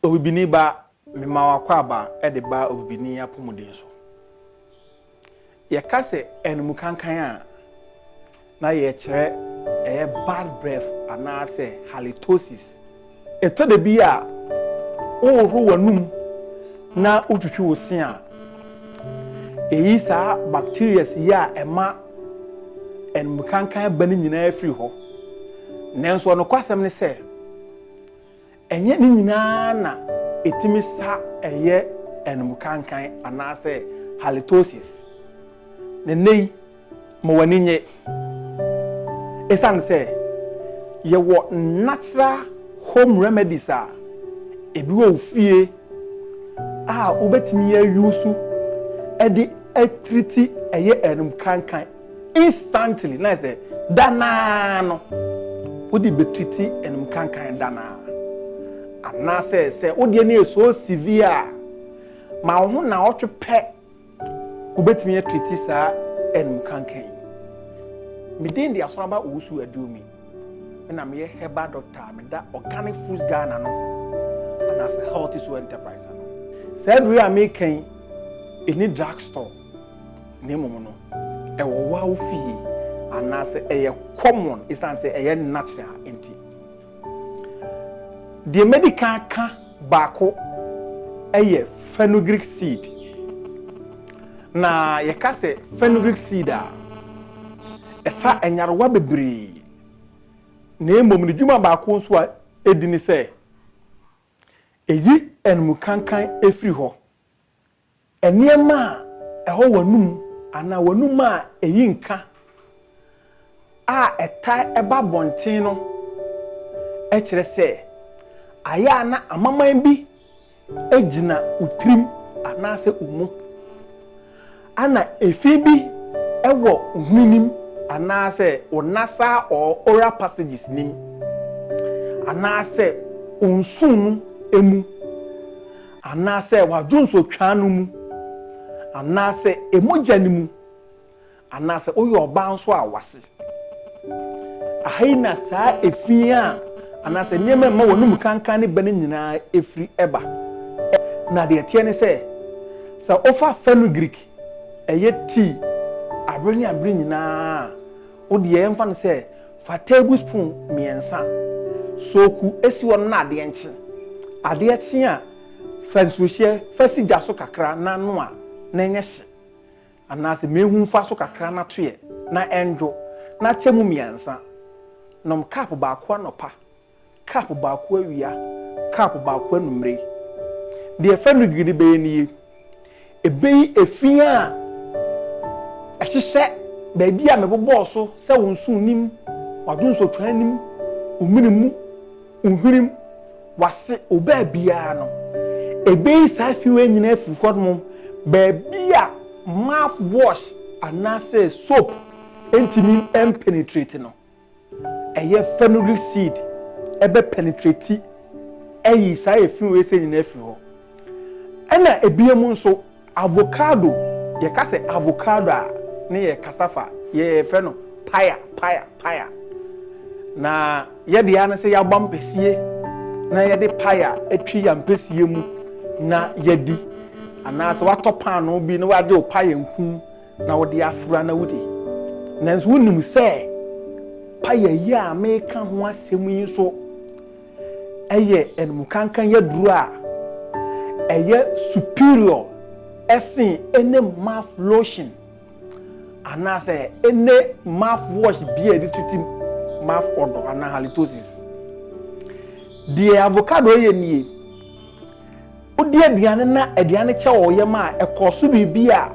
Obibini ba, mema wo akwaaba de ba obibini apɔmuden so. Yɛka sɛ anumukankan a, na yɛrekyerɛ ɛyɛ bad breath anaasɛ halitosis. Ɛtɔ da bi a wohohoro w'anom na wotwitwi wo se a, ɛyi saa bacterias yi a ɛma anumukankan ba no nyinaa firi hɔ. Nanso ɔnokwasɛm ne sɛ, Ɛnyɛ ne nyinaa na etumi sa yɛ anumkankan anaasɛ halitosis. Na nnɛyi, ma w'ani nnye. Esiane sɛ yɛwɔ natural home remedies a ebi wɔ wo fie a wubetumi ayusu de atiriti ɛyɛ anumkankan. Instantly, na sɛ da no ara no wode bɛtwiti anum kankan da no ara. Anaasɛ sɛ wo deɛ no yɛ so severe a, ma wo ho naawɔtwe pɛ wobɛtumi atwiti saa anum kankan yi. Me din de Asɔraba Owusu Aduomi. Me na meyɛ herbal doctor a meda Organic Foods Ghana no anaasɛ Healthy Soul Enterprise ano. Saa aduro yi a meka yi, ɛnni drug store. Na mmom no, ɛwɔ wo ara wo fie anaasɛ ɛyɛ common esiane sɛ ɛyɛ natural nti. Deɛ madi kan aka baako yɛ fenugreek seed. Na yɛka sɛ fenugreek seed a, ɛsa nyarewa bebree. Na mmom ne dwuma baako nso a ɛdi ne sɛ, ɛyi animkankan firi hɔ. Nneɛma a ɛwɔ w'anom anaa w'anom a eyi nka a ɛtaa ba abɔnten no kyerɛ sɛ ayɛ a na amaman bi gyina wo tirim anaasɛ wo mu. Ana efi bi wɔ wo hwenem anaasɛ wo nasa or oral passages nim anaasɛ wo nsono mu? Anaasɛ w'adwonsɔ twaa no mu, anaasɛ emogya no mu, anaasɛ woyɛ ɔbaa nso a w'ase. Aha yi na saa efi a anaasɛ nneɛma a ɛma w'anom kankan ne bɛ no nyinaa firi ba. Na deɛ ɛteɛ ne sɛ, sɛ wofa fenugreek, ɛyɛ tii, abere ne abere nyinaa a, wo deɛ yɛmfa no sɛ Fa tablespoon mmiɛnsa soku si hɔ no na adeɛ nkye. Adeɛ kye a, fa nsuohyeɛ fa si gya so kakra na noa na ɛnyɛ hye anaasɛ mehu fa so kakra na toeɛ na ɛndwo na kyɛ mu mmiɛnsa. Nom cup baako anɔpa. Cup baako awia, cup baako anwummere. Deɛ ɛfa nudwiri no bɛyɛ nie, ɛbɛyi efi a ɛhyehyɛ baabi a mebobɔɔ so sɛ wo nso nnim, w'adwonsotwaa nnim, wo mene mu, wo hwenem, w'ase, wo baabiara no. Ɛbɛyi saa fi wei nyinaa afiri hɔnom, baabi a mouth wash anaasɛ soap ntumi mpenetrate no. Ɛyɛ fenugreek seed ɛbɛ penetrate ayi saa efi wei sɛ nyinaa afiri hɔ. Ɛna ebiam nso avocado yɛka sɛ avocado a ne yɛ cassava yɛfrɛ no paya paya paya na yɛ deɛ ne sɛ yɛabɔ ampesie na yɛde paya atwi ampesie mu na yɛdi anaa sɛ watɔ paanoo bi na wagye wo paya nku na wode afura na wodi. Nanso wonim sɛ paya yi a meka ho asɛm yi nso ɛyɛ animkankan yaduro a ɛyɛ superior ɛsen ɛne mouth lotion anaasɛ ɛne mouth wash bi a yɛde tutu mouth odor anaa halitosis. Deɛ avocado yɛ nie. Wodi aduane na aduane no kyɛ wo yam a, ɛkɔ so biribi a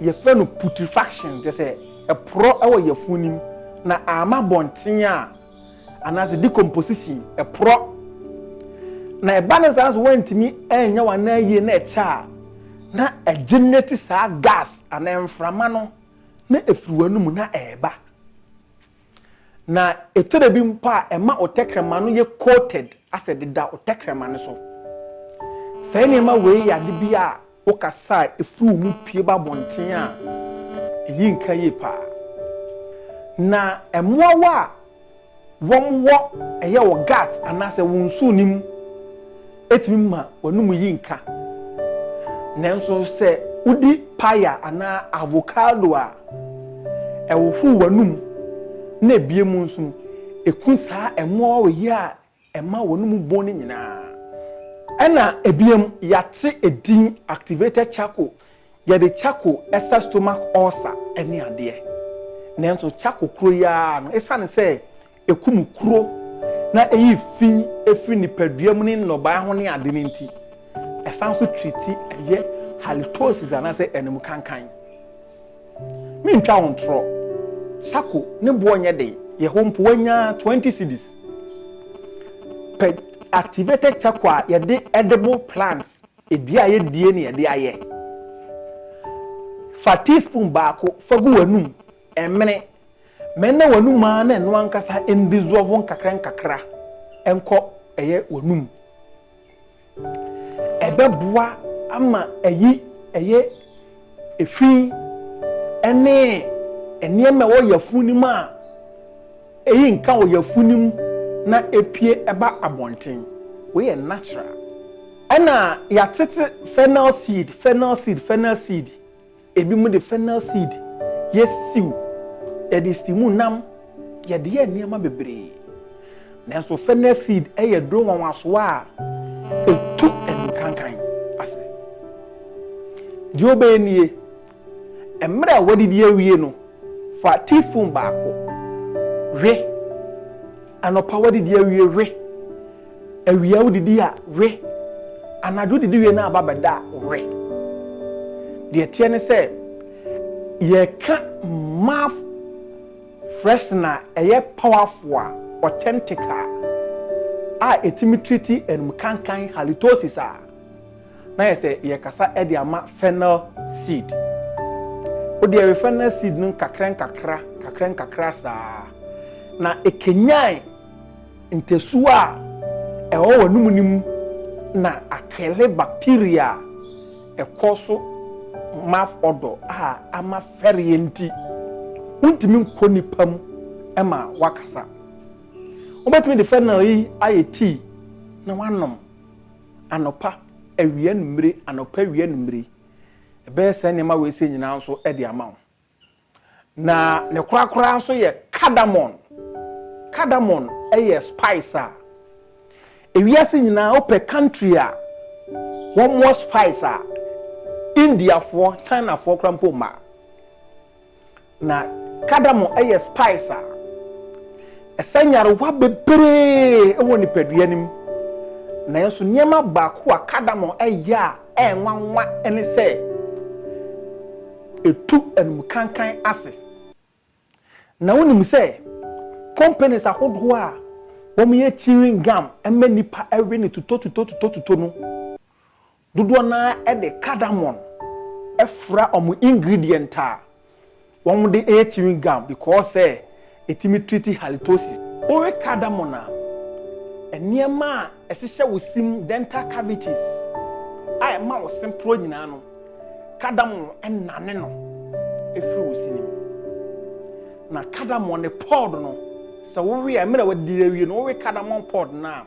wɔfrɛ no putrefaction, kyerɛ sɛ, ɛporɔ wɔ yafunu no mu na amma abɔnten a, anaasɛ decomposition, ɛporɔ. Na ɛba no saa nso woantumi anyɛ w'anan yie na ɛkyɛ a, na ɛgenerate saa gas anaa mframa no na ɛfiri w'anomu na ɛreba. Na ɛtɔ da bi mpo a ɛma wo tɛkrɛma no yɛ coated asɛ deda wo tɛkrɛma no so. Saa nneɛma wei yɛ ade bi a wokasa a ɛfiri wo mu pue ba abɔnten a, ɛyi nka yie pa ara. Na mmoawa a wɔwɔ ɛyɛ wo guts anaasɛ wo nsuo no mu. Etumi ma w'anom yi nka. Nanso sɛ wodi paya anaa avocado a, ɛhohoro w'anom na ebue mu nso no, eku saa ɛmɔɔ yi a ɛma w'anom bɔn no nyinaa. Ɛnna ebiem, yɛate edin activated charcoal. Yɛde charcoal sa stomach ulcer ne adeɛ. Nanso charcoal koro yi ara no, esiane sɛ Ekum kuro na eyi fi firi nipadua mu ne nnɔbae ho ne ade no nti. Ɛsan nso triti ɛyɛ halitosis anaasɛ anum kankan. Mentwa wo ntorɔ, sako ne boɔ nyɛ den, yɛ hɔ mpo wanya 20 cedis. Pɛ activated charcoal a yɛde edible plants, edua a yɛdie na yɛde ayɛ. Fa teaspoon baako fa gu w'anum, ɛmene. Mɛnna w'anom ara na ɛno ankasa ndisɔɔvo nkakrankakra nkɔ ɛyɛ w'anom. Ɛbɛboa ama ayi ɛyɛ efi ɛne nneɛma ɛwɔ yafun no mu a eyi nka wɔ yafun no mu na epue ɛba abɔnten. Wei yɛ natural. Ɛna yatete fennel seed, fennel seed, fennel seed. Ebinom de fennel seed yɛ stew, yɛde steam nam, yɛde yɛ nneɛma bebree. Nanso fennel seed yɛ aduro nwanwasoɔ a ɛtu adukankan ase. Deɛ wobɛyɛ nie, mmerɛ a woadidi awie no, fa teaspoon baako we. Anɔpa woadidi awie we. Awia wodidi a we. Anadwo didi wie na aba bɛda a we. Deɛ teɛ ne sɛ yɛka mouth freshener ɛyɛ powerful a authentic a a ɛtumi treat ɛnum kankan halitosis a na ayɛ sɛ yɛrekasa de ama fennel seed. Wode ɛwe fennel seed no nkakrankakra, nkakrankakra saa, na ɛkanyan ntasuo a ɛwɔ w'anum no mu na akele bacteria a ɛkɔ so mouth odor a ama fɛreɛ nti wontumi nkɔ nipa mu ma wakasa. Wobɛtumi de fennel yi ayɛ tea na wanom. Anɔpa, awia, anwummere, anɔpa, awia, anwummere. Ɛbɛyɛ saa nneɛma wei sɛ nyinaa nso de ama wo. Na ne korakoraa nso yɛ cardamom. Cardamom yɛ spice a ewiase nyinaa wopɛ country a wɔmmɔ spice a Indiafoɔ, Chinafoɔ koraa mpo mma. Na kadamo yɛ spice a ɛsa nyarewa bebree wɔ nipadua no mu. Nanso nneɛma baako a kadamo yɛ a ɛyɛ nwanwa ne sɛ etu anumkankan ase. Na wonim sɛ companies ahodoɔ a wɔyɛ chewing gum ma nnipa we no tutotutotutotuto no, Dodoɔ no ara de cardamom fra wɔn ingredient a wɔde yɛ chewing gum because sɛ ɛtumi treat halitosis. Wowe cardamom a, nneɛma a ɛhyehyɛ wo se mu, dental cavities, a ɛma wo se porɔ nyinaa no, cardamom nane no firi wo se no mu. Na cardamom no pod no, sɛ wowe a, mmerɛ a wadi awie no, wowe cardamom pod no a,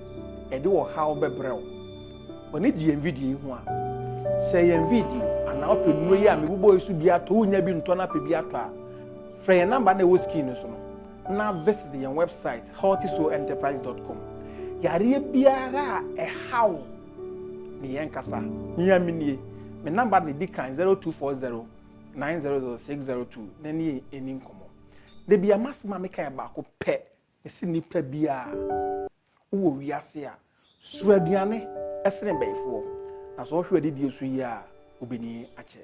Ɛde ɔhaw bɛbrɛ wo. W'ani gye yɛn video yi ho a, sɛ yɛn video anaa wopɛ nnuro yi a mebobɔ yi so bi atɔ, wonya bi ntɔ na apɛ bi atɔ a, frɛ yɛn namba na ɛwɔ screen no so no na visit yɛn website healthysoulenterprise.com. Yareɛ biara a ɛhaw ne yɛn kasa, mia me nie, me namba na ɛdi kan 0240 900602 na ne yɛn ɛni nkɔmmɔ. Da bi a masɛm a meka yɛ baako pɛ Ɛse nnipa biara, wowɔ wiase a, suro aduane sene bayifoɔ, na sɛ ɔhwɛ adidie so yie a, wobɛni akyɛ.